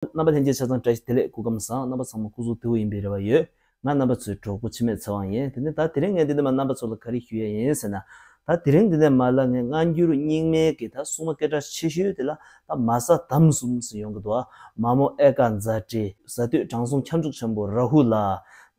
རྣམ་པ་ལྷན་སྐྱེས་ཆ་ཚང་བཀྲ་ཤིས་བདེ་ལེགས་སྐུ་ཁམས་བཟང་རྣམ་པ་ཚང་མ་སྐུ་གཟུགས་དེ་འུ་ཡིན་པའི་རེ་བ་ཡོད། ང་རྣམ་པ་ཚོའི་གྲོགས་པོ་འཆི་མེད་ཚེ་དབང་ཡིན་དེ་ནས་ད་དེ་རིང་ངས་འདི་ནས་མ་རྣམ་པ་ཚོ་ལ་ག་རེ་ཞུ་ཡ་ཡིན་ཟེར་ན། ད་དེ་རིང་འདི་ནས་མ་ལ་ངས་སྔ་འགྱུར་རྙིང་མའི་གི་ད་སྲུང་མ་སྐད་གྲགས་ཆེ་ཤོས་དེ་ལ་ད་མ་ས་དམ་གསུམ་ཟེར་ཡོང་གི་འདུག་ཨ་མ་མོ་ཨེ་ཀ་མཛའ་བཀྲིས་གཟའ་བཏུད་དྲང་སྲོང་ཁྱབ་འཇུག་ཆེན་པོ་རཱ་ཧུ་ལ།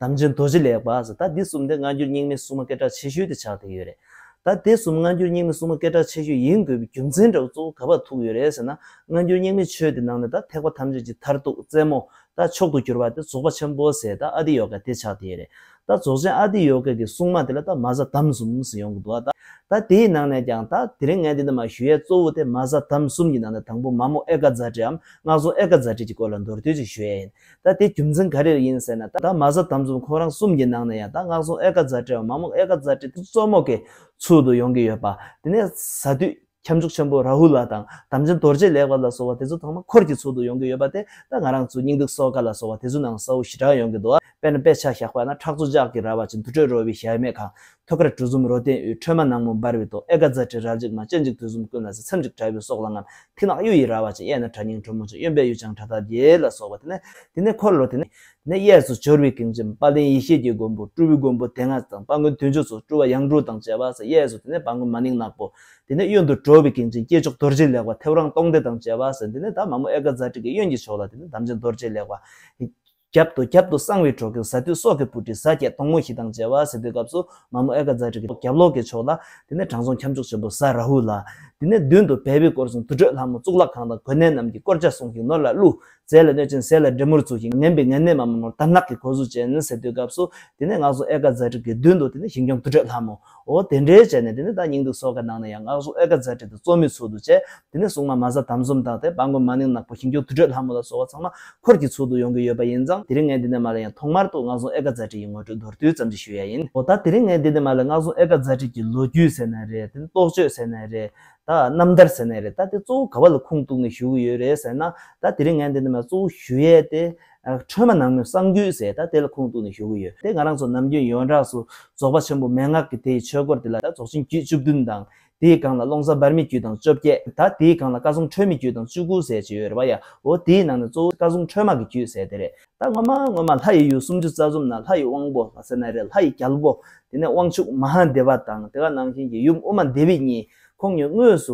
དམ་ཅན་རྡོ་རྗེ་ལེགས་པ་ཟེར་ད་འདི་གསུམ་དེ་སྔ་འགྱུར་རྙིང་མའི་སྲུང་མ་སྐད་གྲགས་ཆེ་ཤོས་དེ་ཆགས་དེ་ཡོད་རེད། ད་དེ་གསུམ་སྔ་འགྱུར་རྙིང་མའི་སྲུང་མ་སྐད་གྲགས་ཆེ་ཤོས་ཡིན་དགོས་པའི་རྒྱུ་མཚན་འདྲ་བོ་གཙོ་བོ་ག་བར་ཐུག་ཡོད་རེད་ཟེར་ན། སྔ་འགྱུར་རྙིང་མའི་ཆོས་དེ་ནང་ནས་ད་ཐེག་པ་ཐམས་ཅད་ཀྱི་མཐར་ཐུག་རྩེ་མོ། ད་མཆོག་ཏུ་གྱུར་པ་དེ་རྫོགས་པ་ཆེན་པོ་ཟེར་ད་ཨ་ཏི་ཡོ་ག་དེ་ཆགས་དེ་རེད། ད་རྫོགས་ཆེན་ཨ་ཏི་ཡོ་ག་གི་སྲུང་མ་དེ་ལ་ད་མ་གཟའ་དམ་གསུམ་ཟེར་ཡོང་གི་འདུག་ད། ད་དེའི་ནང་ནས་ཀྱང་ད་དེ་རིང་ངས་འདི་འདི་མ་ཞུ་ཡས་གཙོ་བོ་དེ་མ་གཟའ་དམ་གསུམ་གྱི་ནང་ནས་དང་པོ་མ་མོ་ཨེ་ཀ་ཛཱ་ཏྲི་འམ་སྔགས་རྫོང་ཨེ་ཀ་ཛཱ་ཏྲི་གྱི་སྐོར་ལ་མདོར་བསྡུས་ཀྱིས་ཞུ་ཡས་ཡིན། ད་དེའི་རྒྱུ་མཚན་ག་རེར་ཡིན་ཟེར་ན་ད་མ་གཟབ་དམ་གཟབ་ཁོ་རང་གསུམ་གྱི་ནང་ནས་ཡང་ད་སྔགས་སྲུང་ཨེ་ཀ་ཛཱ་ཏྲེ་བ་མ་མོ་ཨེ་ཀ་ཛཱ་ཏྲེ་གཙོ་མོ་གི་ཚུལ་དུ་ཡོང་གི་ཡོད་པ། དེ་ནས་ཟ་དུས་ཁྱབ་འཇུག་ཆེན་པོ་རཱ་ཧུ་ལ་དང་དམ་ཅན་རྡོ་རྗེ་ལེགས་པ་ལ་སོགས་པ་དེ་ཚོ་ཚང་མ་འཁོར་གྱི་ཚུལ་དུ་ཡོང་གི་ཡོད་པ་དེ་ད་ང་རང་ཚོའི་སྙིང་སྡུག་སོ་ཀ་ལ་སོགས་པ་དེ་ཚོའི་ནང་ས་བོན་ཞི་དྲག་ཡོང་གི་འདུག་དཔེར་ན་དཔེ་ཆ་བཞག་པ་ན་ཁྲག་མཚོ་ལྕགས་ཀྱི་ར་བ་ཅན་དུར་ཁྲོད་རོལ་བའི་ཞལ་མེད་ཁང་ཐོད་དཀར་གྲུ་གསུམ་རོ་སྟེང་དབུས་ཁྲོས་མ་ནག་མོ་འབར་བའི་ཐོག་ཨེ་ཀ་ཛཱ་ཏྲི་རལ་གཅིག་མ་སྤྱན་གཅིག་དུས་གསུམ་ཀུན་ལ་གཟི་མཚམས་གཅིག་དྲ་བའི་སོགས་ལ་རྔམ་མཐིང་ནག་གཡུ་ཡི་ར་བ་ཅན་གཡས་ན་གྲ་སྙིང་ཁྲོ་མོ་ཅན་གཡོན་པས་གཡུ་བྱང་ཁྲ་ཐབས་རྒྱལ་ལ་སོགས་པ་དེ་ནས་འཁོར་ལོ་དེ་ནས་གཡས་སུ་སྦྱོར་བའི་གིང་བཅིངས་དཔལ་ལྡན་ཡེ་ཤེས་ཀྱི་མགོན་པོ་སྤྲུལ་བའི་མགོན་པོ་དེ་སྔགས་དང་དཔའ་མགོན་དུས་མཆོད་སོགས་སྤྲུལ་བ་ཡང་དྲུག་དང་བཅས་པ་སོགས་གཡས་སུ་དེ་ནས་དཔའ་མགོན་མ་ནིང་ནག་པོ། དེ་ནས་གཡོན་དུ་གྲོ་བའི་གིང་བཅིངས་སྐྱེས་མཆོག་རྡོ་རྗེ་ལེགས་པ་ཐེའུ་རང་སྟོང་སྡེ་དང་བཅས་པ་སོགས་དེ་ནས་དང་མ་མོ་ཨེ་ཀ་ཛཱ་ཏྲི་ཀའི་གཡོན་གྱི་ཕྱོགས་ལ་དེ་ནས་དམ་ཅན་རྡོ་རྗེ་ལེགས་པ། རྒྱབ་ཏུ་རྒྱབ་ཏུ་གསང་བའི་གྲོགས་ཀྱི་ཟ་དུས་སྲོག་གི་སྤུ་གྲི་ཟ་བརྒྱད་སྟོང་མོ་བཞི་དང་བཅས་པ་ཟེར་དུས་སྐབས་སུ་མ་མོ་ཨེ་ཀ་ཛཱ་ཏྲི་གི་རྒྱབ་ལོགས་ཀྱི་ཕྱོགས་ལ། དེ་ནས་དྲང་སྲོང་ཁྱབ་འཇུག་ཆེན་པོ་ཟ་ར་ཧུ་ལ། དེ་ནས་མདུན་དུ་བལ་བུས་བསྐོར་ཞིང་དུར་ཁྲོད་ལྷ་མོ་གཙུག་ལག་ཁང་དང་གོས་སྣེ་རྣམས་ཀྱིས་བསྐོར་བྱ་སྲོང་གི་ནོར་ལ་བསླུ། རྫས་ལ་གནོད་ཅིང་ཟས་ལ་འདྲེ་མོར་ཚུགས་ཤིང་ངན་པའི་ངན་སྣོད་མ་མོ་ནོར་དར་ནག་གི་གོ་གཟུགས་ཅན་ཟེར་དུས་སྐབས་སུ། དེ་ནས་སྔགས་སྲུང་ཨེ་ཀ་ཛཱ་ཏྲི་གི་མདུན་དུ་དེ་ནས་ཞིང་སྐྱོང་དུར་ཁྲོད་ལྷ་མོ། འོ་དེ་འདྲའི་བྱས་ནས་དེ་ནས་ད་སྙིང་སྡུག་སོག་ཀ་ནང་ནས་ཡང་སྔགས་སྲུང་ཨེ་ཀ་རྫ་ཁྲི་དང་གཙོ་མོའི་ཚུལ་དུ་བྱས། དེ་ནས་སྲུང་མ་མ་ཟ་དམ་ཟོམ་དང་ཐེ་པ་མགོན་མ་ནིང་ནག་པོ་ཞིང་སྐྱོང་དུར་ཁྲོད་ལྷ་མོ་ལ་སོགས་བ་ཚང་མ་འཁོར་གྱི་ཚུལ་དུ་ཡོང་གི་ཡོད་པ་ཡིན་ཙང་དེ་རིང་ངས་འདི་ནས་མ་ལ་ཡང་ཐོག་མར་དུ་སྔགས་སྲུང་ཨེ་ཀ་རྫ་ཁྲི་ཡི་ངོ་སྤྲོད་མདོར་བསྡུས་ཙམ་ཞིག་ཞུ་ཡ་ཡིན། འོ་ད་དེ་རིང་ངས་འདི་ནས་མ་ལ་སྔགས་སྲུང་ཨེ་ཀ་རྫ་ཁྲི་ཀྱི་ལོ་རྒྱུས་ཟེར་ནའི་རེད་དེ་ནས་རྟོགས་བརྗོད་ཟེར་ནའི་རེད་ད་རྣམ་ཐར་ཟེར་ནའི་རེད་ད་དེ་གཙོ་བོ་ག་བ་ལ་ཁུངས་གཏུགས་ནས་ཞུ་གི་ཡོད་རེད་ཟེར་ན་ད་དེ་རིང་ངས་འདི་ནས་མ་ལ་གཙོ་བོ་ཞུ་ཡས་དེ་ཁྲོས་མ་ནག་མོའི་གསང་རྒྱུད་ཟེར་ད་དེ་ལ་ཁུངས་གཏུགས་ནས་ཞུ་གི་ཡོད་དེ་ང་རང་ཚོ་ནམ་རྒྱུན་ཡོངས་གྲགས་སུ་རྫོགས་པ་ཆེན་པོ་མན་ངག་གི་དེའི་ཆོས་སྐོར་དེ་ལ་ད་རྫོགས་ཆེན་རྒྱུད་བཅུ་བདུན་དང། དེའི་སྒང་ལ་ཀློང་གསར་འབར་མའི་རྒྱུད་དང་བཅོ་བརྒྱད་ད་དེའི་སྒང་ལ་བཀའ་སྲུང་ཁྲོས་མའི་རྒྱུད་དང་བཅུ་དགུ་ཟེར་བྱས་ཡོད་རེད་བ་ཡ་འོ་དེའི་ནང་ནས་གཙོ་བོ་བཀའ་སྲུང་ཁྲོས་མ་གི་རྒྱུད་ཟེར་དེ་རེད་ད་སྔོན་མ་སྔོན་མ་ལྷ་ཡི་ཡུལ་སུམ་ཅུ་རྩ་གསུམ་ན་ལྷ་ཡི་དབང་པོ་ལྷ་སྲས་ན་རེ་ལྷ་ཡི་རྒྱལ་པོ་དེ་ནས་དབང་ཕྱུག་མ་ཧཱ་དེ་བ་དང་དེ་ག་ནང་བཞིན་གྱི་ཡུམ་དབུ་མ་དེ་བི་གཉིས་ཁོང་གཉིས་དངོས་སུ་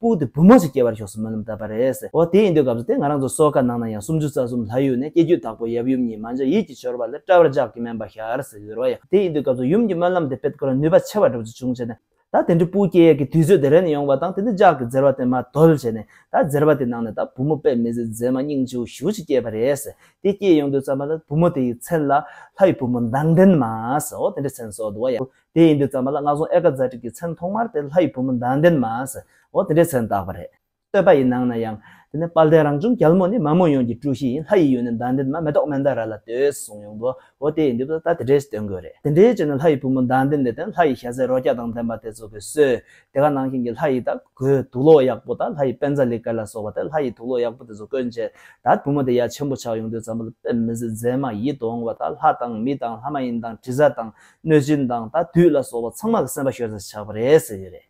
པུའུ་དེ་བུ་མོ་ཞིག་སྐྱེ་བར་ཤོག་སུ་མོ་ལམ་བཏབ་པ་རེད། འོ་དེ་ཡིན་དུས་སྐབས་སུ་དེ་ང་རང་ཚོ་སོག་ཁ་ནང་ན་ཡང་སུམ་ཅུ་རྩ་གསུམ་ལྷ་ཡུལ་ནས་སྐྱེ་རྒྱུད་དྭགས་པོ་ཡབ་ཡུམ་གཉིས་མ་འཇོག་ཡིད་ཀྱི་འཆོར་བ་ལས་སྐྲ་བར་འཇག་གི་མན་པ་ཤར་ཟེར་ཡོད་ར་བ་ཡ། དེ་ཡིན་དུས་སྐབས་སུ་ཡུམ་གྱི་སྨོན་ལམ་དེ་དཔེ་དཀོན་ར་ནུས་པ་ཆེ་བ་འགྲུབ་ཚུལ་བྱུང་བྱས་ནས། ད་དེ་འདྲའི་པུའུ་སྐྱེ་ཡས་ཀྱི་དུས་ཚོད་དེ་རན་ནས་ཡོང་བ་དང་དེ་འདྲའི་འཇག་གི་འཛེར་བ་དེ་མ་དོལ་བྱས་ནས་ད་འཛེར་བ་དེ་ནང་ནས་ད་བུ་མོ་དཔེ་མི་ཟེར་མཛེས་མ་སྙིང་བྱིའུ་བཞུ་ཅིག་སྐྱེས་པ་རེད། དེ་སྐྱེས་ཡོང་དུས་ཙམ་པ་ལ་བུ་མོ་དེ་ཡི་མཚན་ལ། ལྷ་ཡི་བུ་མོ་མདངས་ལྡན་མ་ཟེར་འོ་དེ་འདྲའི་མཚན་གསོལ་འདུག་བ་ཡ། དེ་ཡིན་དུས་བརྩམས་པ་ལ་སྔགས་སྲུང་ཨེ་ཀ་ཛཱ་ཏྲིག་གི་མཚན་ཐོག་མར་དེ་ལྷ་ཡི་བུ་མོ་མདངས་ལྡན་མ་ཟེར་འོ་དེ་འདྲའི་མཚན་བཏགས་པ་རེད། བསྟོད་པ་ཡི་ནང་ན་ཡང། དེ་ནས་དཔལ་ལྡན་རང་བྱུང་རྒྱལ་མོ་ནི་མ་མོ་ཡོངས་ཀྱི་སྤྲུལ་གཞི་ཡིན་ལྷ་ཡི་ཡུལ་ནས་མདངས་ལྡན་མ་མེ་ཏོག་མན་དཱ་ར་ལ་བསྟོད་གསུངས་ཡོང་དུ་འོ་དེ་ཡིན་དུས་ད་དེ་འདྲའི་བསྟོད་དགོས་རེད་དེ་འདྲའི་ཆེད་ནས་ལྷ་ཡི་བུ་མོ་མདངས་ལྡན་ལས་དོན་ལྷ་ཡི་ཞལ་ཟས་རོ་བརྒྱ་དང་ལྡན་པ་དེ་ཚོ་དགོས་སོས་དེ་ག་ནང་བཞིན་གྱི་ལྷ་ཡི་དག་གོས་དུག་ལོག་ཡག་པོ་དང་ལྷ་ཡི་དཔལ་རྫ་ལི་ཀ་ལ་སོགས་པ་དེ་ལྷ་ཡི་དུག་ལོག་ཡག་པོ་དེ་ཚོ་བཀོན་བྱས་ད་བུ་མོ་དེ་ཡ་ཆེན་པོ་ཆགས་ཡོང་དུས་བརྩམས་པ་ལ་དཔེ་མི་སྲིད་མཛེས་མ་ཡིད་དུ་འོང་བ་དང་ལྷ་དང་མི་དང་ལྷ་མ་ཡིན་དང་དྲི་ཟ་དང་གནོད་སྦྱིན་དང་ད་དུས་ལ་སོགས་པ་ཚང་མ་ལ་སེམས་པ་ཤོར་ས་ཆགས་པ་རེད་ཟེར་ཡོད་རེད།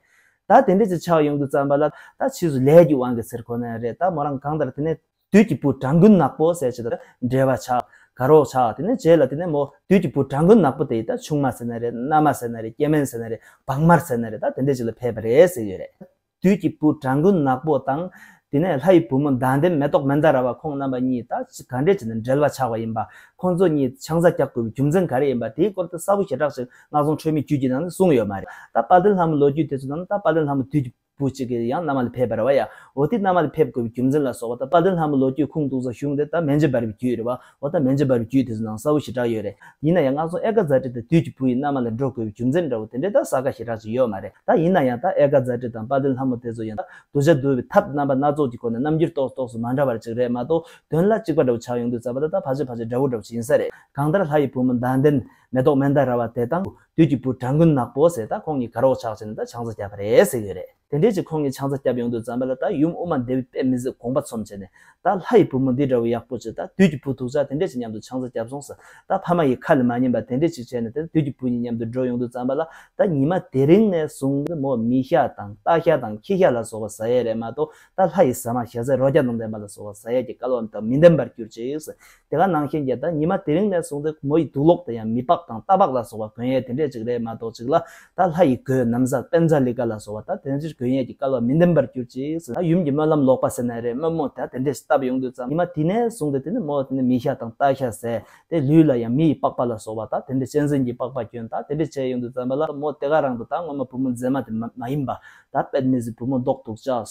ད་དེ་འདྲས་ཀྱི་ཆགས་ཡོང་དུས་བརྩམས་པ་ལ་ད་ཕྱིས་སུ་ལས་ཀྱི་དབང་གིས་ཚེར་ཁོ་ན་རེད་ད་མོ་རང་གང་ལྟར་དེ་ནས་དུས་ཀྱི་བུ་གྲགས་འགུན་ནག་པོ་ཟས་བྱེད་དང་འབྲེལ་བ་ཆགས་དགའ་རོགས་ཆགས་དེ་ནས་རྗེས་ལ་དེ་ནས་མོ་དུས་ཀྱི་བུ་གྲགས་འགུན་ནག་པོ་དེ་ཡིས་ད་ཆུང་མ་ཟེར་ན་རེད་མནའ་མ་ཟེར་ན་རེད་སྐྱེ་དམན་ཟེར་ན་རེད་བག་མར་ཟེར་ན་རེད་ད་དེ་འདྲས་ཅིག་ལ་ཕེབས་པ་རེད་ཟེར་ཡོད་རེད། དུས་ཀྱི་བུ་བྲང་དགུན་ནག་པོ་དང། དེ་ནས་ལྷ་ཡི་བུ་མོ་མདངས་ལྡན་མེ་ཏོག་མན་དཱ་ར་བ་ཁོང་རྣམ་པ་གཉིས་ད་ཅི་ག་འདྲའི་བྱས་ནས་འབྲེལ་བ་ཆགས་པ་ཡིན་པ། ཁོང་ཚོ་གཉིས་ཆང་ས་རྒྱག་དགོས་པའི་རྒྱུ་མཚན་ག་རེ་ཡིན་པ་དེའི་སྐོར་དུ་གསལ་པོ་ཞེ་དྲགས་ཤིག་སྔགས་རྫོང་ཆོས་མིའི་རྒྱུད་ཀྱི་ནང་ནས་གསུངས་ཡོད་མ་རེད། ད་དཔལ་ལྡན་ལྷ་མོའི་ལོ་རྒྱུས་དེ་ཚོ་རྣམས་ད་དཔལ་ལྡན་ལྷ་མོ་དུས་ཀྱི་བུ་གཅིག་གིས་ཡང་མནའ་མ་ལ་ཕེབས་པར་བ་ཡ་འོ་དེ་མནའ་མ་ལ་ཕེབས་དགོས་པའི་རྒྱུ་མཚན་ལ་སོགས་པ་ད་དཔལ་ལྡན་ལྷ་མོའི་ལོ་རྒྱུས་ཁུངས་གཏུགས་ས་གཞུང་དེ་ད་མན་ཇི་བར་བའི་རྒྱུད་རེད་བ། འོ་ད་མན་ཇི་བར་བའི་རྒྱུད་དེ་ཚོ་ནང་གསལ་བོ་ཞེ་དྲག་ཡོད་རེད་ཡིན་ན་ཡང་སྔགས་རྫོང་ཨེ་ཀ་ཛཱ་ཏི་དང་དུས་ཀྱི་བུ་ཡི་མནའ་མ་ལ་འགྲོ་དགོས་པའི་རྒྱུ་མཚན་འདྲ་བོ་དེ་འདྲའི་དག་ས་ཁ་ཞེ་དྲག་ཅིག་ཡོད་མ་རེད་ད་ཡིན་ན་ཡང་དག་ཨེ་ཀ་ཛཱ་ཏི་དང་དཔའ་བརྟན་ལྷ་མོ་དེ་ཚོ་ཡང་དག་གདུལ་བྱ་འདུལ་བའི་ཐབས་རྣམ་པ་སྣ་ཚོགས་ཀྱི་སྐོར་ནས་རྣམ་འགྱུར་རྟོགས་རྟོགས་སུ་མ་འདྲ་བར་ཅིག་རེད་མ་གཏོགས་དོན་ལ་གཅིག་པ་འདྲ་བོ་ཆགས་ཡོང་དུས་རྩ་བ་ད་ལྟ་བར་ཆད་བར་ཆད་འདྲ་བོ་འདྲ་བོ་ཞིག་ཡིན་ས་རེད་གང་ལྟར་ལྷ་ཡི་བུ་མོ་མདངས་ལྡན་མེ་ཏོག་མན་དཱ་ར་བ་དེ་དང་དུས་ཀྱི་བུ་གྲགས་འགུན་ནག་པོ་ཟེར་ད་ཁོང་གཉིས་དགའ་རོགས་ཆགས་ཆེ་ནས་ད་ཆང་ས་རྒྱག་གི་རེད་ཟེར་གི་ཡོད་རེད། དེ་འབྲེལ་གྱི་ཁོང་གི་ཆང་རྩ་སྐྱབས་ཡོང་དུས་རྩམ་པ་ལ་ད་ཡུམ་དབུ་མ་འདི་བས་དཔེ་མི་གཟིགས་དགོངས་པ་ཚོམས་བྱས་ནས་ད་ལྷ་ཡི་བུ་མོ་འདི་འདྲ་བོ་ཡག་པོ་ཅིག་ད་དུས་ཀྱི་བུ་ཐུག་ཅག་དེ་འབྲེལ་གྱི་མཉམ་དུ་ཆང་རྩ་སྐྱབས་སོང་ཟེར་ད་ཕ་མ་ཡི་ཁ་ལ་མ་ཉན་པ་དེ་འབྲེལ་ཅིག་བྱས་ནས་ད་དུས་ཀྱི་བུ་གཉིས་མཉམ་དུ་འགྲོ་ཡོང་དུས་རྩམ་པ་ལ་ད་ཉི་མ་དེ་རིང་ནས་བཟུང་སྟེ་མོ་མི་ཤ་དང་རྟ་ཤ་དང་ཁྱི་ཤ་ལ་སོགས་པ་ཟ་ཡས་རེད་མ་གཏོགས་ད་ལྷ་ཡི་ཟ་མ་ཞལ་ཟས་རོ་བརྒྱ་དང་ལྡན་པ་ལ་སོགས་པ་ཟ་ཡས་ཀྱི་སྐལ་བ་དང་མི་ལྡན་པར་གྱུར་ཅིག་ཟེར་དེ་ག་ནང་ཤན་རྒྱས་དང་ཉི་མ་དེ་རིང་ནས་བཟུང་སྟེ་མོ་ཡི་དུག་ལོག་དེ་ཡང་མི་ཕག་དང་རྟ་ཕག་ལ་སོགས་པ་གོན་ཡས་དེ་འདྲས་ཅིག་རེད་མ་གཏོགས་ཅིག་ལ་ད་ལྷ་ཡི་གོས་ནམ་བཟའ་དཔལ་བཟའ་ལི་ཀ་ལ་སོགས་པ་ད་དེ་འདྲས་གོན་ཡས་ཀྱི་སྐལ་བ་མི་ལྡན་པར་གྱུར་ཅིག་ཟེར་ན་ཡུམ་གྱི་སྨོན་ལམ་ལོག་པ་ཟེར་ན་རེད་དམོད་མོ་ད་དེ་འདྲས་བཏབ་ཡོང་དུས་ཙམ་ཉི་མ་དེ་ནས་བཟུང་སྟེ་དེ་ནས་མོ་དེ་ནས་མི་ཤ་དང་རྟ་ཤ་ཟས་ཏེ་ལུས་ལ་ཡང་མི་ཡི་པགས་པ་ལ་སོགས་པ་ད་དེ་འདྲས་གཅན་གཟན་གྱི་པགས་པ་གྱོན་ད་དེ་འདྲས་བྱས་ཡོང་དུས་ཙམ་པ་ལ་མོ་དེ་ག་རང་དུ་ད་སྔོན་མ་བུ་མོ་མཛེས་མ་དེ་མ་ཡིན་པ་ད་དཔལ་མི་ཟི་བུ་མོ་མདོག་དུག་ལྕགས་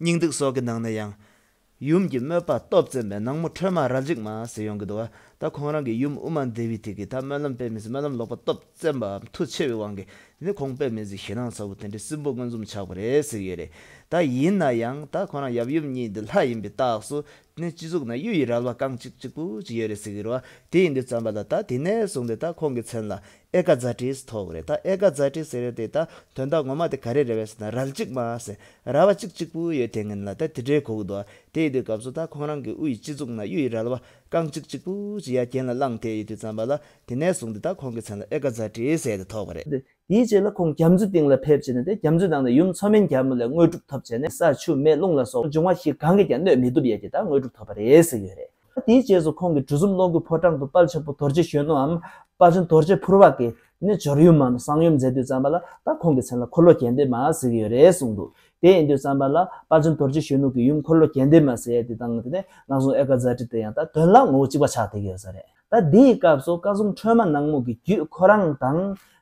སྙིང་ཏིག་སོགས་ཀྱི་ནང་ནས་ཡང། ཡུམ་གྱི་དམོད་པ་སྟོབས་བཙན་པའི་ནག་མོ་ཁྲོས་མ་ར་འཇིགས་མ་ཟེར་ཡོང་གི་འདུག་ད་ཁོང་རང་གི་ཡུམ་དབུ་མ་འདི་བས་ཐིག་གིས་ད་སྨོན་ལམ་སྤེལ་མི་སྲིད་སྨོན་ལམ་ལོག་པ་སྟོབས་བཙན་པའམ་མཐུ་ཆེ་བའི་དབང་གིས་ནི་ཁོང་སྤེལ་མི་སྲིད་ཞེད་སྣང་ཚ་བོ་དེ་འདྲའི་སྲིན་པོ་མངོན་འཛོམས་ཆགས་པ་རེད་ཟེར་གྱི་ཡོད་རེད་ད་ཡིན་ན་ཡང་ད་ཁོང་རང་ཡབ་ཡུམ་གཉིས་འདི་ལྷ་ཡིན་པའི་རྟགས་སུ་ནི་སྤྱི་གཙུག་ན་གཡུ་ཡི་རལ་བ་རྐང་གཅིག་གཅིག་པུ་ཅིག་ཡོད་རེད་ཟེར་གྱི་རོ་དེ་ཡིན་དུས་བརྩམས་པ་ལ་ད་དེ་ནས་བཟུང་སྟེ་ད་ཁོང་གི་མཚན་ལ་ཨེ་ཀ་ཛཱ་ཏིས་ཐོག་རེད་ད་ཨེ་ཀ་ཛཱ་ཏི་ཟེར་དེ་ད་དོན་དག་ངོ་མ་དེ་ག་རེ་རེད་བས་སོ་ད་རལ་གཅིག་མ་ཟེར་རལ་བ་གཅིག་གཅིག་པུ་ཡོད་དེ་ངན་ལ་ད་དེ་འདྲའི་གོག་འདུག་ཨ་དེའི་དུས་སྐབས་སུ་ད་ཁོང་རང་གི་དབུ་ཡི་སྤྱི་གཙུག་ན་གཡུ་ཡི་རལ་བ་རྐང་གཅིག་གཅིག་པུ་ཅིག་ཡ་གྱེན་ལ་བླངས་དེ་ཡི་དུས་ཙམ་པ་ལ་དེ་ནས་བཟུང་སྟེ་ད་ཁོང་གི་མཚན་ལ་ཨེ་ཀ་ཛཱ་ཏི་ཟེར་དེ་ཐོག་པ་རེད། དེའི་རྗེས་ལ་ཁོང་རྒྱ་མཚོའི་སྟེང་ལ་ཕེབས་བྱས་ནས་དེ་རྒྱ་མཚོའི་ནང་ནས་ཡུམ་མཚོ་སྨན་རྒྱལ་མོ་ལས་དངོས་གྲུབ་ཐོབ་བྱས་ནས་ས་ཆུ་མེ་རླུང་ལ་སོགས་འབྱུང་བ་བཞི་གང་གིས་ཀྱང་གནོད་མི་ཐུབ་ཡས་ཀྱི་ད་དངོས་གྲུབ་ཐོབ་པ་རེད་ཟེར་གྱི་ཡོད་རེད། དེའི་རྗེས་སུ་ཁོང་གིས་གྲུ་གསུམ་སློང་སྐུའི་ཕོ་བྲང་དུ་དཔལ་ཆེན་པོ་རྡོ་རྗེ་གཞོན་ནུའམ་དཔའ་ཆེན་རྡོ་རྗེ་ཕུར་བ་ཀྱིས་ནི་སྦྱོར་ཡུལ་མམ་གསང་ཡུམ་མཛད་དུས་བརྩམས་པ་ལ་ད་ཁོང་གི་མཚན་ལ་འཁོར་ལོ་གྱེན་འདེབས་མ་ཟེར་གྱི་ཡོད་རེད་གསུངས་འདུག་དེ་ཡིན་དུས་བརྩམས་པ་ལ་དཔའ་ཆེན་རྡོ་རྗེ་གཞོན་ནུ་ཀྱི་ཡུམ་འཁོར་ལོ་གྱེན་འདེབས་མ་ཟེར་ཡས་དེ་དང་དེ་ནས་ནགས་གསུང་ཨེ་ཀ་ཛཱ་ཏི་དེ་ཡང་ད་དོན་ལ་ངོ་བོ་གཅིག་པ་ཆགས་བསྡད་ཀྱི་ཡོད་ས་རེད། ད་འདིའི་སྐབས་སུ་བཀའ་སྲུང་ཁྲོས་མ་ནག་མོ་གི་རྒྱུད་ཁོ་རང་དང།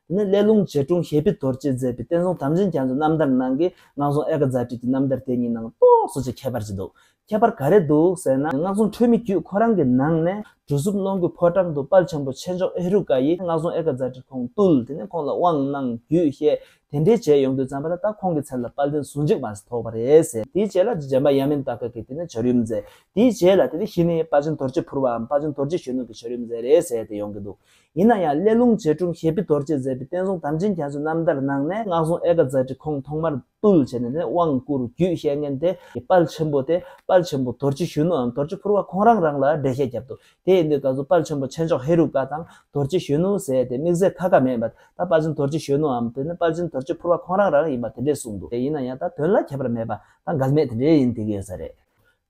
དེ་ནས་ཀླད་ལུང་རྗེ་དྲུང་ཞལ་ཕི་རྡོ་རྗེས་མཛད་པའི་བསྟན་སྲུང་དམ་ཅན་རྒྱ་མཚོའི་རྣམ་ཐར་ནང་གི་ནགས་གསུང་ཨེ་ཀ་ཛཱ་ཏི་གྱི་རྣམ་ཐར་དེ་གཉིས་ནང་རྟོགས་སུ་ཅི་ཁྱད་པར་ཅི་འདུག་ཁྱད་པར་ག་རེ་འདུག་ཟེར་ན་སྔགས་རྫོང་ཁྲོད་མི་བརྒྱུད་ཁོ་རང་གི་ནང་ནས་གྲུ་གཟུགས་སྣོ་མགུལ་ཕོ་བྲང་དུ་དཔལ་ཆེན་པོ་ཆེ་མཆོག་ཨེ་རུ་ཀ་ཡིས་སྔགས་རྫོང་ཨེ་ཀ་ཛཱ་ཏྲི་ཁོང་བཏུལ་དེ་ནས་ཁོང་ལ་དབང་གནང་རྒྱུའི་བཤད་དེ་འདྲའི་བྱས་ཡོང་དུས་བརྩམས་པ་ལ་ད་ཁོང་གི་མཚན་ལ་དཔལ་ལྡན་ཟུང་འཇུག་བར་ཐོགས་པ་རེད་ཟེར། དེའི་རྗེས་ལ་རྗེ་འབའ་ཡ་མེན་ཏཱ་ཀ་གིས་དེ་ནས་བྱོར་ཡུམ་མཛད། དེའི་རྗེས་ལ་དེ་ནས་ཤི་ནས་དཔའ་ཆེན་དོར་རྗེ་ཕུར་བའམ་དཔའ་ཆེན་དོར་རྗེ་གཞོན་ནུ་གིས་བྱོར་ཡུམ་མཛད་རེད་ཟེར་ཏེ་ཡོང་གི་འདུག་ཡིན་ན་ཡང་སླད་ལུང་རྗེ་འབྲུམ་ཞེས་པི་དོར་རྗེས་མཛད་པའི་བསྟན་སྲུང་དམ་ཅན་རྒྱ་མཚོའི་རྣམ་ཐར་ནང་ནས་སྔགས་རྫོང་ཨེ་ཀ་ཛཱ་ཏྲི་ཁོང་ཐོག་མར། བཏུལ་བྱས་ནས་ནི་དབང་བསྐུར་རྒྱུད་བཤད་མཁན་དེ་དཔལ་ཆེན་པོ་སྟེ་དཔལ་ཆེན་པོ་དོར་གཅིག་གཞོན་ནུའམ་དོར་གཅིག་ཕུར་བ་ཁོང་རང་རང་ལ་འགྲེལ་བཤད་བརྒྱབ་འདུག་དེ་ཡིན་དུས་ད་གཟོད་དཔལ་ཆེན་པོ་ཆེ་མཆོག་ཧེ་རུ་ཀ་དང་དོར་གཅིག་གཞོན་ནུ་ཟེར་དེ་དམིགས་བསལ་ཁ་ཁ་མེད་པར་ད་དཔལ་ཆེན་དོར་གཅིག་གཞོན་ནུའམ་དེ་ནི་དཔལ་ཆེན་དོར་གཅིག་ཕུར་བ་ཁོང་རང་རང་ཡིན་པ་དེ་འདྲས་གསུངས་འདུག་དེ་ཡིན་ན་ཡང་ད་དོན་ལ་ཁྱད་པར་མེད་པ་ད་འགལ་མེད་དེ་འདྲས་ཡིན་དེ་ག་ས་རེད།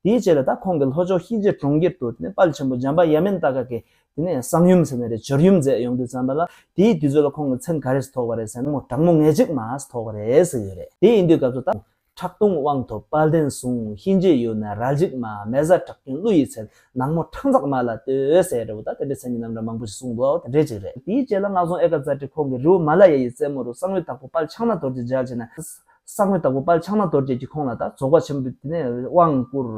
དེའི་རྗེས་ལ་ད་ཁོང་གི་ལྷོ་ཕྱོགས་ཧི་ཇེ་གྲོང་ཁྱེར་དུ་དེ་ནས་དཔལ་ཆེན་པོ་འཇམ་དཔལ་ཡ་མེན་ཏཱ་ཀ་ཀེ། དེ་ནས་གསང་ཡུམ་ཟེར་ནས་རེད་སྦྱོར་ཡུམ་མཛད་ཡོང་དུས་བརྩམས་པ་ལ་དེའི་དུས་ཚོད་ལ་ཁོང་གི་མཚན་ག་རེས་ཐོགས་པ་རེད་ཟེར་ན་མོ་དྲག་མོ་ངེས་གཅིག་མཱས་ཐོགས་པ་རེད་ཟེར་ཡོད་རེད་དེ་ཡིན་དུས་སྐབས་སུ་ད། ཁྲག་འཐུང་དབང་ཐོབ་དཔལ་ལྡན་གསུང་ཧི་ཇེ་ཡུལ་ན་རལ་གཅིག་མཱ་མེ་བཟའ་བྲག་སྐྱོན་ཀླུ་ཡི་མཚན་ནག་མོ་ཁྲག་འཛག་མཱ་ལ་ལྟོས་ཟེར་རེད་བོ་ད་དེ་འདྲའི་མཚན་གྱི་རྣམ་གྲངས་མང་པོ་ཞིག་གསུངས་འདུག་དེ་འདྲའི་གཅིག་རེད། དེའི་རྗེས་ལ་སྔགས་རྫོང་ཨེ་ཀ་ཛཱ་ཏི་ཁོང་གི་རི་བོ་མཱ་ལ་ཡ་ཡི་རྩེ་མོ་རུ་གསང་བའི་དྭགས་པོ་དཔལ་ཕྱག་ན་དོར་གྱི་ལྗགས་བྱས་ན། ས་དངོས་དང་པོ་དཔལ་ཕྱག་ན་རྡོ་རྗེ་གྱི་ཁོང་ན་དང་རྫོགས་པ་ཆེན་པོ་དེ་ནས་དབང་བསྐུར།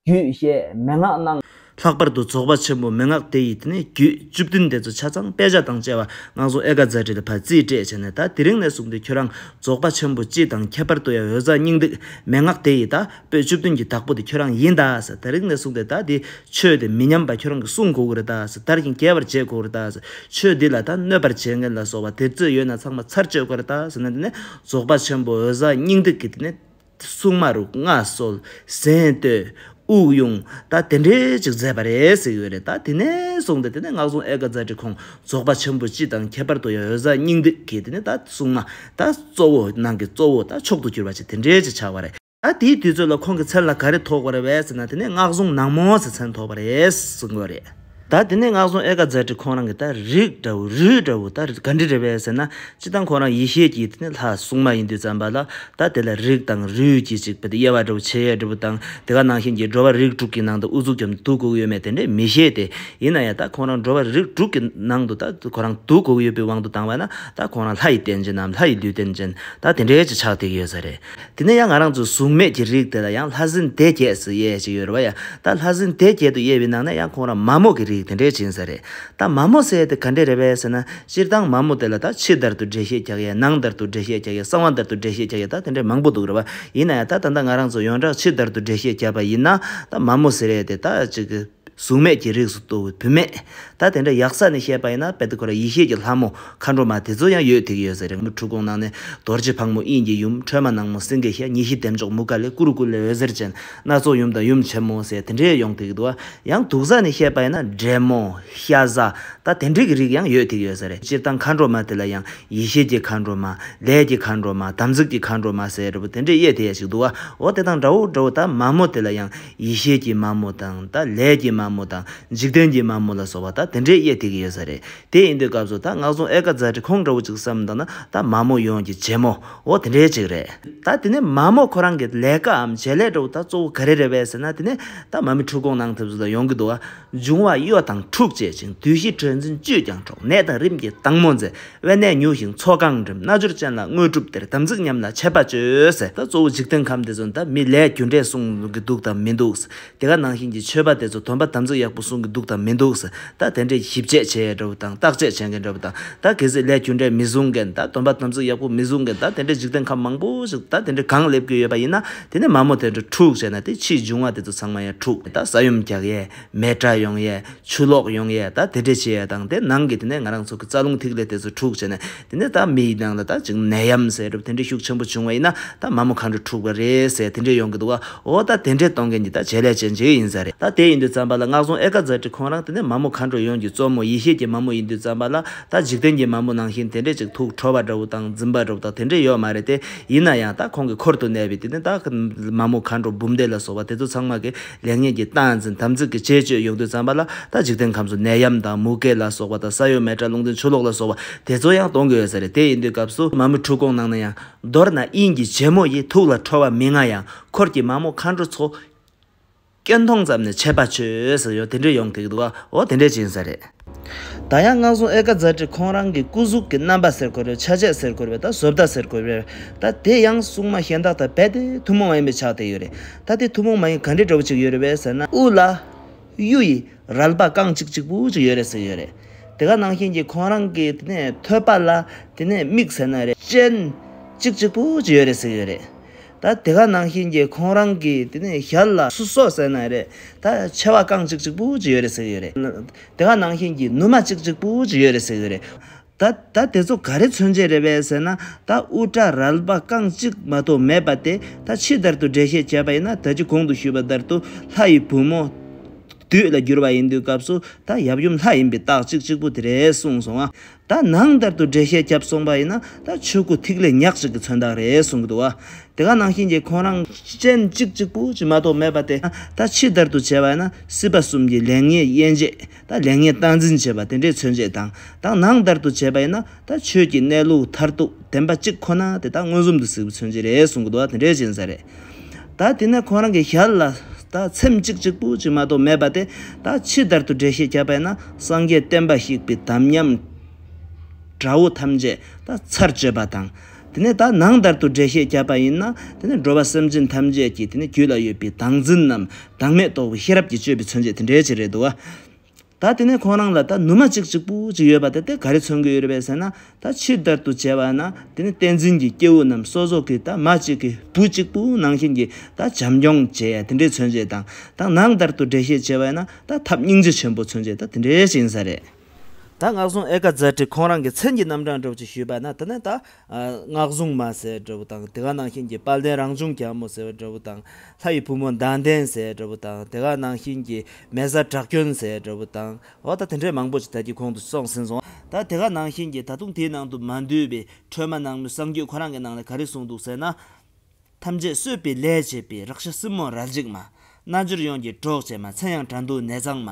རྒྱུད་བཤད་མན་ངག་གནང། ལྷག་པར་དུ་རྫོགས་པ་ཆེན་པོ་མན་ངག་དེ་ཡི་དེ་ནས་རྒྱུད་བཅུ་བདུན་དེ་ཚོ་ཆ་ཚང་དཔེ་ཆ་དང་བཅས་པ་སྔགས་རྫོགས་ཨེ་ཀ་ཛཱ་བྲི་ལ་བར་རྩིས་སྤྲད་བྱས་ནས་ད་དེ་རིང་ནས་བཟུང་སྟེ་ཁྱོད་རང་རྫོགས་པ་ཆེན་པོ་སྤྱི་དང་ཁྱད་པར་དུ་ཡང་འོད་གསལ་སྙིང་ཏིག་མན་ངག་དེ་ཡི་ད་པོད་བཅུ་བདུན་གྱི་བདག་པོ་དེ་ཁྱོད་རང་ཡིན་ད་ཟེར་ད་རིང་ནས་བཟུང་སྟེ་ད་དེ་ཆོས་དེ་མི་ཉམས་པ་ཁྱོད་རང་གིས་གསུང་དགོས་ཀྱི་རེད་ད་ཟེར་དར་ཞིང་རྒྱས་པར་བྱེད་དགོས་ཀྱི་རེད་ད་ཟེར་ཆོས་འདི་ལ་ད་གནོད་པར་བྱེད་མཁན་ལ་སོགས་པ་དེ་ཚོས་ཡོད་ན་ཚང་མ་ཚར་གཅོད་དགོས་རེད་ད་ཟེར་ནས་དེ་ནས་རྫོགས་པ་ཆེན་པོ་འོད་གསལ་སྙིང་ཏིག་གི་ནི། སྲུང་མ་རུ་མངའ་གསོལ་གཟེངས་བསྟོད་དབུགས་དབྱུང་ད་དེ་འདྲའི་ཅིག་མཛད་པ་རེད་ཟེར་གྱི་ཡོད་རེད་ད་དེ་ནས་བཟུང་སྟེ་དེ་ནས་སྔགས་སྲུང་ཨེ་ཀ་ཛཱ་ཏི་ཁོང་རྫོགས་པ་ཆེན་པོ་སྤྱི་དང་ཁྱད་པར་དུ་ཡང་འོད་གསལ་སྙིང་ཏིག་གི་ནི་ད་སྲུང་མ་ད་གཙོ་བོ་ནང་གི་གཙོ་བོ་ད་མཆོག་ཏུ་གྱུར་པ་ཅིག་དེ་འདྲའི་ཅིག་ཆགས་པ་རེད། ད་དེའི་དུས་ཚོད་ལ་ཁོང་གི་མཚན་ལ་ག་རེ་ཐོགས་པ་རེད་བས་ཟེར་ན་དེ་ནས་སྔགས་བཟུང་ནག་མོ་ཟེར་མཚན་ཐོགས་པ་རེད་ཟེར་དགོས་རེད། ད་དེ་ནས་སྔགས་བཟུང་ཨེ་ཀ་ཛར་ཏི་ཁོང་རང་གི་ད་རིགས་འདྲ་བོ་རུས་འདྲ་བོ་ད་ག་འདྲི་རེད་བས་ཟེར་ན་སྤྱི་བཏང་ཁོང་རང་ཡེ་ཤེས་ཀྱི་དེ་ནས་ལྷ་སྲུང་མ་ཡིན་དུས་བརྩམས་པ་ལ་ད་དེ་ལ་རིགས་དང་རུས་ཀྱི་ཅིག་པ་དེ་དབྱེ་བ་འདྲ་བོ་ཕྱེད་ཡས་འདྲ་བོ་དང་དེ་ག་ནང་བཞིན་གྱི་འགྲོ་བ་རིགས་དྲུག་གི་ནང་དུ་དབུ་གཟུགས་ཀྱང་དུག་གོ་གི་ཡོད་མེད་དེ་འདྲས་མི་ཤེས་ཏེ་ཡིན་ན་ཡང་ད་ཁོང་རང་འགྲོ་བ་རིགས་དྲུག་གི་ནང་དུ་ད་ཁོ་རང་དུག་གོ་གི་ཡོད་པའི་དབང་དུ་བཏང་བ་ན་ད་ཁོང་རང་ལྷ་ཡི་རྟེན་ཅན་ནམ་ལྷ་ཡི་ལུས་རྟེན་ཅན་ད་དེ་འདྲས་ཀྱི་ཆགས་ཐིག་ཡོད་ས་རེད། དེ་ནས་ཡང་ང་རང་ཚོ་གཟུགས་མེད་ཀྱི་རིགས་དེ་ལ་ཡང་ལྷ་སྲིན་སྡེ་བརྒྱད་ཟེར་ཡས་ཅིག་ཡོད་རེད་བ་ཡ། ད་ལྷ་སྲིན་སྡེ་བརྒྱད་དུ་དབྱེ་བའི་ནང་ནས་ཡང་ཁོང་རང་མ་མོ་གི་རིགས་དེ་འདྲའི་བྱིན་ཟེར་རེད། ད་མ་མོ་ཟེར་ཡས་དེ་ག་འདྲས་རེད་བས་ཟེར་ན། སྤྱིར་བཏང་མ་མོ་དེ་ལ་ད་ཕྱི་དར་དུ་འགྲེལ་བཤད་རྒྱག་ཡས་ནང་དར་དུ་འགྲེལ་བཤད་རྒྱག་ཡས་གསང་བ་དར་དུ་འགྲེལ་བཤད་རྒྱག་ཡས་ད་དེ་འདྲས་མང་པོ་འདུག་རེད་བ། ཡིན་ན་ཡང་ད་ད་ལྟ་ང་རང་ཚོ་ཡོངས་གྲགས་ཕྱི་དར་དུ་འགྲེལ་བཤད་བརྒྱབ་པ་ཡིན་ན། ད་མ་མོ་ཟེར་ཡས་དེ་ད་ཅིག། གཟུགས་མེད་ཀྱི་རིགས་སུ་གཏོགས་པའི་བུད་མེད། ད་དེ་འདྲ་ཡག་ས་ནས་བཤད་པ་ཡིན་ན་དཔལ་ཏི་ཀོ་ར་ཡེ་ཤེས་ཀྱི་ལྷ་མོ་མཁའ་འགྲོ་མ་དེ་ཚོ་ཡང་ཡོད་ཐིག་ཡོད་ས་རེད་མོ་འཁྲུལ་གོང་ནང་ནས་རྡོ་རྗེ་ཕག་མོ་དབྱིངས་ཀྱི་ཡུམ་ཁྲོས་མ་ནག་མོ་སེང་གེ་ཤ་ཉེ་བཞི་ལྡེམ་མཆོག་མུ་ཀ་ལེ་ཀུ་རུ་ཀུ་ལེ་འོད་ཟེར་ཅན་སྣ་ཚོགས་ཡུམ་དང་ཡུམ་ཆེན་མོ་ཟེར་དེ་འདྲའི་ཡོང་ཐིག་འདུག་ཡང་དུག་ས་ནས་བཤད་པ་ཡིན་ན་འདྲེ་མོ། ཤ་ཟ། ད་དེ་འདྲའི་གི་རིགས་ཡང་ཡོད་ཐིག་ཡོད་ས་རེད་སྤྱིར་བཏང་མཁའ་འགྲོ་མ་དེ་ལ་ཡང་ཡེ་ཤེས་ཀྱི་མཁའ་འགྲོ་མ། ལས་ཀྱི་མཁའ་འགྲོ་མ་དམ་ཚིག་གི་མཁའ་འགྲོ་མ་ཟེར་རེད་པོ་དེ་འདྲའི་དབྱེ་དེ་ཡ་ཞིག་འདུག་འོ་དེ་དང་འདྲ་བོ་འདྲ་བོ་ད་མ་མོ་དེ་ལ་ཡང། ཡེ་ཤེས་ཀྱི་མ་མོ་དང་ད་ལས་ཀྱི་མ་མོ་དང་འཇིག་རྟེན་གྱི་མ་མོ་ལ་སོགས་པ་ད་དེ་འདྲའི་དབྱེ་ཐིག་ཡོད་ས་རེད་དེ་ཨིན་དུའི་སྐབས་སུ་ད་སྔགས་རྫོང་ཨེ་ཀ་ཛཱ་ཏི་ཁོང་འདྲ་བོ་ཅིག་བསམ་འདུག་ན་ད་མ་མོ་ཡོངས་ཀྱི་རྗེ་མོ་འོ་དེ་འདྲའི་ཅིག་རེད། ད་དེ་ནས་མ་མོ་ཁོ་རང་གི་ལས་ཀའམ་བྱེད་ལས་འདྲ་བོ་ད་གཙོ་བོ་ག་རེ་རེད་བས་ཟེར་ན་དེ་ནས་ད་མ་མི་འཁྲུག་གོང་ནང་ཐེབས་བཟོ་ད་ཡོང་གི་འདུག་ཨ། འབྱུང་བ་གཡོ་དང་འཁྲུག་བྱེད་ཅིང་བདུད་བཞི་དྲོད་འཛིན་བཅུད་ཀྱང་འཕྲོག་ནད་དང་རིམས་ཀྱི་སྡང་མོ་འཛིན་དབེན་གནས་མྱུག་ཞིང་མཚོ་གང་འགྲིམ་རྣལ་འབྱོར་ཅན་ལ་དངོས་གྲུབ་སྟེར་དམ་ཚིག་ཉམས་ལ་ཆད་པ་གཅོད། ད་གཙོ་བོ་འཇིག་རྟེན་ཁམས་དེ་ཚོ་ད་མི་ལས་རྒྱུ་འབྲས་གསུང་གི་འདུག་དང་མི་འདུག་དེ་ག་ནང་བཞིན་གྱི་ཆོས་པ་དེ་ཚོ་དོན་པ་དམ་ཚིག་ཡག་པོ་གསུང་གི་འདུག་དང་མི་འདུག་ད་དེ་འདྲས་ཞིབ་དཔྱད་བྱེད་འདྲ་བོ་དང་བརྟག་དཔྱད་བྱེད་མཁན་འདྲ་བོ་དང་ད་གལ་སྲིད་ལས་རྒྱུ་འབྲས་མི་བཟུང་མཁན་ད་དོན་པ་དམ་ཚིག་ཡག་པོ་མི་བཟུང་མཁན་ད་དེ་འདྲས་འཇིག་རྟེན་ཁམས་མང་པོ་ཞིག་ད་དེ་འདྲས་གང་སླེབས་ཀྱི་ཡོད་པ་ཡིན་ན་དེ་ནས་མ་མོ་དེ་འདྲ་དྲུག་བྱས་ན་དེ་ཕྱིའི་འབྱུང་བ་དེ་ཚོ་ཚང་མ་ཡང་དྲུག་ད་ས་ཡོམ་རྒྱག་ཡས་མེ་དྲ་ཡོང་ཡས་ཆུ་ལོག་ཡོང་ཡས་ད་དེ་འདྲས་བྱེད་ཡས་དང་དེ་ནང་གི་དེ་ནས་ང་རང་ཚོ་གི་རྩ་རླུང་ཐིག་ལེ་དེ་ཚོ་དྲུག་བྱས་ན་དེ་ནས་ད་མིའི་ནང་ལ་ད་ཅིག་ནད་ཡམ་ཟས་གྲུབ་དེ་འདྲས་ཤུགས་ཆེན་པོ་བྱུང་བ་ཡིན་ན་ད་མ་མོ་གང་འདྲས་དྲུག་པ་རེད་ཟས་དེ་འདྲས་ཡོང་གི་འདུག་ཨ་ཨོ་ད་དེ་འདྲས་གཏོང་མཁན་གྱི་ད་བྱེད་ལས་བྱེད་འཇིག་ཡིན་ས་རེད་ད་དེ་ཡིན་དུས་ཙམ་པ་ལ་སྔགས་རྫོང་ཨེ་ཀ་ཛར་ཏྲི་ཁོང་རང་དེ་ནས་མ་མོ་གང་འདྲས་ཡོང་གྱི་གཙོ་མོ་ཡེ་ཤེས་ཀྱི་མ་མོ་ཡིན་དུས་ཙམ་པ་ལ་ད་འཇིག་རྟེན་གྱི་མ་མོ་ནང་བཞིན་དེ་འདྲས་ཅིག་དུག་འཕྲོ་བ་འདྲ་བོ་དང་འཛིན་པ་འདྲ་བོ་དག་དེ་འདྲས་ཡོད་མ་རེད་དེ། ཡིན་ན་ཡང་ད་ཁོང་གི་འཁོར་དུ་གནས་པའི་དེ་ནས་ད་གིན་མ་མོ་མཁའ་འགྲོ་འབུམ་སྡེ་ལ་སོགས་པ་དེ་ཚོ་ཚང་མ་གི་ལེགས་ཉེས་ཀྱི་སྟངས་འཛིན་དམ་ཚིག་གི་བྱེད་སྤྱོད་ཡོང་དུས་བརྩམས་པ་ལ་ད་འཇིག་རྟེན་ཁམས་སུ་ནད་ཡམས་དང་མུ་གེ་ལ་སོགས་པ་དང་ས་ཡོམ་མེ་དྲག་རླུང་འཛིན་ཆུ་ལོག་ལ་སོགས་པ་དེ་ཚོ་ཡང་གཏོང་གི་ཡོད་ས་རེད་དེ་ཡིན་དུས་སྐབས་སུ་མ་མོའི་འཁྲུལ་སྐོང་གནང་ན་ཡང་མདོར་ན་དབྱིངས་ཀྱི་རྗེ་མོ་ཡི་ཐུགས་ལ་འཕྲོ་བ་མི་མངའ་ཡང་འཁོར་གྱི་མ་མོ་མཁའ་འགྲོ་ཚོ། སྐད་མཐོང་ཙམ་ནས་ཆད་པ་ཆོད་ཟེར་ཡོད་དེ་འདྲས་ཡོང་གི་འདུག་འོ་དེ་འདྲས་བྱིན་ཟེར་རེད། ད་ཡང་སྔགས་སྲུང་ཨེ་ཀ་ཛར་ཀྲི་ཁོང་རང་གི་སྐུ་གཟུགས་ཀྱི་རྣམ་པ་ཟེར་དགོས་རེད་ཆ་བྱད་ཟེར་དགོས་རེད་ད་བཟོ་ལྟ་ཟེར་དགོས་རེད་ད་དེ་ཡང་སྲུང་མ་གཞན་དག་དང་རྦད་དེ་ཐུན་མོང་མ་ཡིན་པའི་ཆགས་བསྡད་ཡོད་རེད་ད་དེ་ཐུན་མོང་མ་ཡིན་ག་འདྲས་འདྲ་བོ་ཅིག་ཡོད་རེད་བས་ཟེར་ན། དབུ་ལ། གཡུ་ཡི། རལ་པ་རྐང་གཅིག་གཅིག་པུ་ཅིག་ཡོད་རེད་ཟེར་ཡོད་རེད། དེ་ག་ནང་བཞིན་གྱི་ཁོང་རང་གི་དེ་ནས་ཐོད་པ་ལ་དེ་ནས་མིག་ཟེར་ན་རེ་ཅན། གཅིག་གཅིག་པུ་ཅིག་ཡོད་རེད་ཟེར་ཡོད་རེད། ད་དེ་ག་ནང་བཞིན་གྱི་ཁོང་རང་གིས་དེ་ནས་ཞར་ལ་སུ་སོགས་ཟེར་ན་རེད་ད་མཆེ་བ་རྐང་གཅིག་གཅིག་པུ་ཅིག་ཡོད་རེད་ཟེར་གྱི་རེད་དེ་ག་ནང་བཞིན་གྱི་ནུ་མ་གཅིག་གཅིག་པུ་ཅིག་ཡོད་རེད་ཟེར་གྱི་རེད་ད་ད་དེ་ཚོ་ག་རེ་མཚོན་བྱེད་རེད་བས་ཟེར་ན་ད་དབུ་སྐྲ་རལ་པ་རྐང་གཅིག་མ་གཏོགས་མེད་པ་དེ་ད་ཕྱི་ལྟར་དུ་འགྲེལ་བཤད་བྱས་པ་ཡིན་ན་ད་ཅི་གོང་དུ་ཞུས་པ་ལྟར་དུ་ལྷ་ཡི་བུ་མོ། བདུད་ལ་བསྒྱུར་བ་ཡིན་དུས་སྐབས་སུ་ད་ཡབ་ཡུམ་ལྷ་ཡིན་པའི་རྟགས་གཅིག་གཅིག་པུ་དེ་རེད་གསུངས་སོང་ང་ད་ནང་ལྟར་དུ་འགྲེལ་བཤད་བརྒྱབ་སོང་པ་ཡིན་ན་ད་ཆོས་སྐུ་ཐིག་ལེ་ཉག་གཅིག་གི་མཚོན་རྟགས་རེད་གསུང་གི་འདུག་བ། དེ་ག་ནང་བཞིན་གྱི་ཁོང་རང། སྤྱན་གཅིག་གཅིག་པུ་གཅིག་མ་གཏོགས་མེད་པ་དེ་ད་ཕྱི་དར་དུ་བྱས་པ་ཡིན་ན་སྲིད་པ་གསུམ་གྱི་ལེགས་ཉེས་དབྱེ་འབྱེད་ད་ལེགས་ཉེས་སྟངས་འཛིན་བྱེད་པ་དེ་འདྲའི་མཚོན་བྱེད་དང་དང་ནང་ལྟར་དུ་བྱས་པ་ཡིན་ན་ད་ཆོས་ཀྱི་གནས་ལུགས་མཐར་ཐུག་བདེན་པ་གཅིག་ཁོ་ན་དེ་ད་མངོན་སུམ་དུ་གཟིགས་པའི་མཚོན་བྱེད་རེད་གསུང་གི་འདུག་བ་དེ་འདྲའི་བྱིན་ཟ་རེད། ད་དེ་ནས་ཁོང་རང་གི་ཞལ་ལ་ད་ཚེམས་གཅིག་གཅིག་པུ་ཅིག་མ་གཏོགས་མེད་པ་དེ་ད་ཕྱི་ལྟར་དུ་འགྲེལ་བཤད་བྱ་བས་ན་སངས་རྒྱས་བསྟན་པ་ཞིག་པའི་དམ་ཉམས་དགྲ་བོ་ཐམས་ཅད་ད་ཚར་གཅོད་པ་དང། དེ་ནས་ད་ནང་ལྟར་དུ་འགྲེལ་བཤད་བྱ་བ་ཡིན་ན་དེ་ནས་འགྲོ་བ་སེམས་ཅན་ཐམས་ཅད་ཀྱི་དེ་ནས་རྒྱུད་ལ་ཡོད་པའི་བདག་འཛིན་རྣམས་བདག་མེད་རྟོགས་པའི་ཤེས་རབ་ཀྱི་སྤྱོད་པའི་མཚོན་བྱེད་དེ་འགྲེལ་བྱེད་རེད་དོ། ད་དེ་ནས་ཁོང་རང་ལ་ད་ནུ་མ་ཅིག་ཅིག་པུ་ཅིག་ཡོད་པ་དེ་དེ་ག་རེ་མཚོན་གྱི་ཡོད་རེད་པས་ཟེར་ན་ད་ཕྱིར་དར་དུ་བྱས་པ་ན་དེ་ནི་བསྟན་འཛིན་གྱི་སྐྱེ་བོ་རྣམས་སོ་སོ་གིས་ད་མ་ཅིག་གིས་བུ་གཅིག་པུ་ནང་བཞིན་གྱིས་ད་བྱམས་སྐྱོང་བྱས་ཡ་དེ་འདྲའི་མཚོན་བྱེད་དང་ད་ནང་དར་དུ་འགྲེལ་བཤད་བྱས་པ་ཡིན་ན་ད་ཐབས་སྙིང་རྗེ་ཆེན་པོ་མཚོན་བྱེད་ད་དེ་འདྲའི་ཅིག་ཡིན་ས་རེད། ད་ངག་སྲུང་ཨེ་ཀ་ཛཱ་ཏྲིས་ཁོང་རང་གི་མཚན་གྱི་རྣམ་གྲངས་སྒྲོག་ཅིག་ཞུས་པ་ན་དེ་ནས་ད་སྔགས་གཟུངས་མ་ཟེར་བའི་འདྲ་བོ་དང་དེ་ག་ནང་བཞིན་གྱི་དཔལ་ལྡན་རང་བྱུང་གྱ་མོ་ཟེར་བའི་འདྲ་བོ་དང་ལྷ་ཡི་བུ་མོ་མདངས་ལྡན་ཟེར་བའི་འདྲ་བོ་དང་དེ་ག་ནང་བཞིན་གྱི་མལ་བཟའ་བྲག་སྐྱོན་ཟེར་བའི་འདྲ་བོ་དང་འོ་ད་དེ་འདྲའི་མང་པོ་ཞིག་ད་ཀྱི་གོང་དུ་སོང་ཟིན་སོང་ད་དེ་ག་ནང་བཞིན་གྱི་ད་དུང་དེའི་ནང་དུ་མ་འདུས་པའི་ཁྲོས་མ་ནང་མོའི་གསང་རྒྱུད་ཁོ་རང་གི་ནང་ལས་ག་རེ་གསུངས་འདུག་ཟེར་ན། ཐམས་ཅད་གསོད་པའི་ལས་བྱེད་པའི་རག་ཤ་སྲིན་མོ་རལ་གཅིག་མ། རྣལ་འབྱོར་ཡོངས་ཀྱི་གྲོགས་བྱེད་མ་མཚན་ཡང་དགྲ་འདུལ་ནད་གཙང་མ།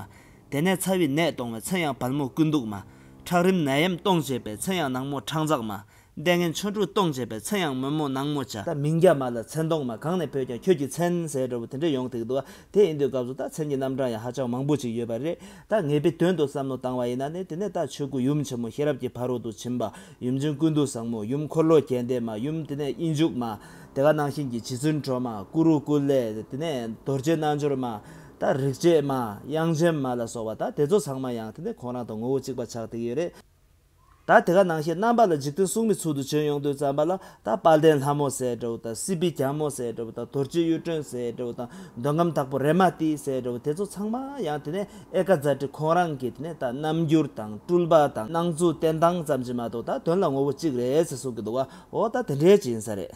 དེ་ནས་ཚ་བའི་ནད་གཏོང་བའི་མཚན་ཡང་བལ་མོ་ཀུན་འདུག་མ། ཁྲག་རིམས་ནད་ཡམས་གཏོང་བྱེད་པའི་མཚན་ཡང་ནག་མོ་ཁྲག་འཛག་མ། ལྟས་ངན་ཆོ་འཕྲུལ་གཏོང་བྱེད་པའི་མཚན་ཡང་དམོད་མོ་ནག་མོ་བྱ། ད་མིང་རྒྱ་མ་ལ་མཚན་གཏོང་མ་གང་ནས་བོས་ཀྱང་ཁྱོད་ཀྱི་མཚན་ཟེར་འདྲ་བོ་དེ་འདྲ་ཡོང་ཐིག་འདུག་ཨ། དེ་ཡིན་དུས་སྐབས་སུ་ད་མཚན་གྱི་རྣམ་གྲངས་ཡང་ཧ་ཅང་མང་པོ་ཅིག་ཡོད་པ་རེད། ད་ངེས་པའི་དོན་དུ་བསམ་བློ་བཏང་བ་ཡིན་ན་ནི་དེ་ནས་ད་ཆོས་སྐུ་ཡུམ་ཆེན་མོ་ཤེས་རབ་ཀྱི་ཕ་རོལ་ཏུ་ཕྱིན་པ་ཡུམ་ཆེན་ཀུན་ཏུ་བཟང་མོ་ཡུམ་འཁོར་ལོ་རྒྱས་འདེབས་མ་ཡུམ་དེ་ནས་དབྱིངས་ཕྱུག་མ། དེ་ཀ་ནང་བཞིན་གྱི་བྱི་ཚུལ་འཕྲོ་མ་ཀུ་རུ་ཀུ་ལེ་དེ་ནས་རྡོ་རྗེ་རྣལ་འབྱོར་མ། དང་རིག་བྱེད་མ་དབྱངས་ཅན་མ་ལ་སོགས་བ་དང་དེ་ཚོགས་ཚང་མ་ཡང་དེ་ནས་ཁོང་རང་དང་ངོ་བོ་གཅིག་པ་ཆགས་དེ་ཡོད་རེད། ད་དེ་ཀ་ནང་བཞིན་རྣམ་པ་ལ་འཇིག་རྟེན་གསུང་མི་ཚུལ་དུ་བྱོན་ཡོང་དུས་བརྩམས་པ་ལ་ད་དཔལ་ལྡན་ལྷ་མོ་སྲས་དགྲ་བོ་དང་སྲིད་པའི་རྒྱལ་མོ་སྲས་དགྲ་བོ་དང་དོར་སྤྱི་གཡུ་སྒྲོན་སྲས་དགྲ་བོ་དང་འདོད་ཁམས་དྭགས་པོ་རེ་མ་ཏིའི་སྲས་དགྲ་བོ་དེ་ཚོ་ཚང་མ་ཡང་དེ་ནས་ཨེ་ཀ་ཛཱ་ཏི་ཁོང་རང་གིས་དེ་ནས་ད་རྣམ་འགྱུར་དང་སྤྲུལ་པ་དང་སྣང་ཚུལ་བསྟན་སྟངས་ཙམ་གྱིས་མ་གཏོགས་ད་དོན་ལ་ངོ་བོ་གཅིག་རེད་ཟེར་གསུང་གི་འདུག་བ་འོ་ད་དེ་འདྲའི་གཅིག་ཡིན་ས་རེད།